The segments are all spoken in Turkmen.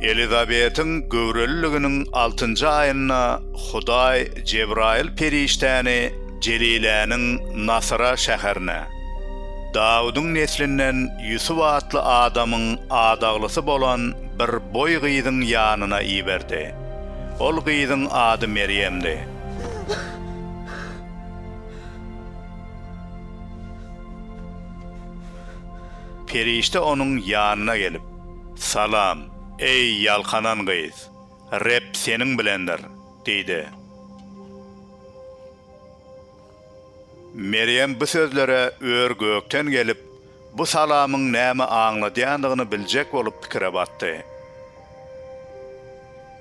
Elizabetiň göwreliliginiň altynjy aýynda Hudaý Jebraýyl perişdäni Jeliläniň Nasyra şäherine, Dawudyň neslinden Ýusup atly adamyň adaglysy bolan bir boý gyzyň ýanyna iberdi. Ol gyzyň ady Merýemdi. Perişde onuň ýanyna gelip, Salam, eý, ýalkanan gyz! Reb seniň bilendir! diýdi. Merýem bu sözlere ör gökden gelip, bu salamyň näme aňladýandygyny biljek bolup pikire batdy.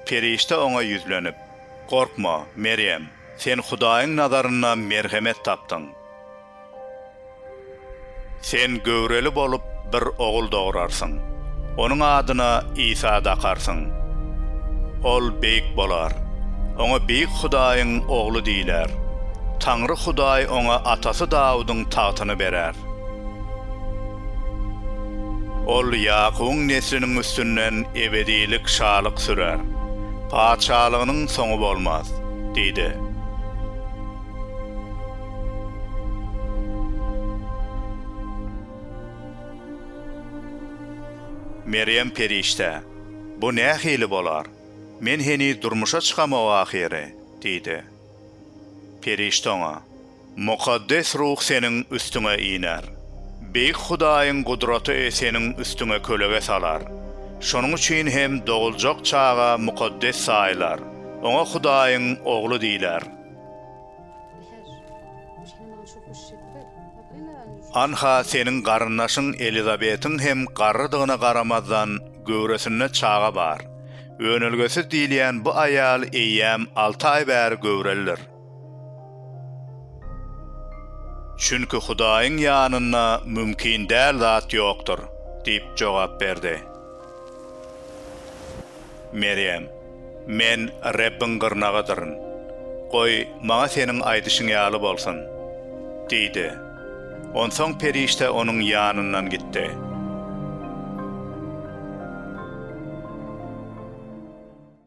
Perişde oňa ýüzlenip, Gorkma, Merýem, sen Hudaýyň nazarynda merhemet tapdyň. Sen göwreli bolup, bir ogul dograrsyň. Onuň adyna Isa dakarsyň. Ol beýik bolar. Oňa Beýik Hudaýyň Ogly diýiler. Taňry Hudaý oňa atasy Dawudyň tagtyny berer. Ol Ýakubyň nesliniň üstünden ebedilik şalyk sürer. Patyşalygynyň soňy bolmaz diýdi. Merýem perişde, Bu nähili bolar? Men heniz durmuşa çykamok ahyry, diýdi. Perişde oňa, Mukaddes Ruh seniň üstüňe iner. Beýik Hudaýyň gudraty seniň üstüňe kölege salar. Şonuň üçin hem doguljak çaga mukaddes saýylar, oňa Hudaýyň Ogly diýler. Anha seniň garyndaşyň Elizabetiň hem garrydygyna garamazdan göwresinde çaga bar. Önelgesiz diýilýän bu aýal eýýäm alty aý bäri göwrelidir. Çünki Hudaýyň ýanynda mümkin däl zat ýokdur, diýip jogap berdi. Merýem, Men Rebbiň gyrnagydyryn. Goý, maňa seniň aýdyşyň ýaly bolsun! diýdi. Onsoň perişde onuň ýanyndan gitdi.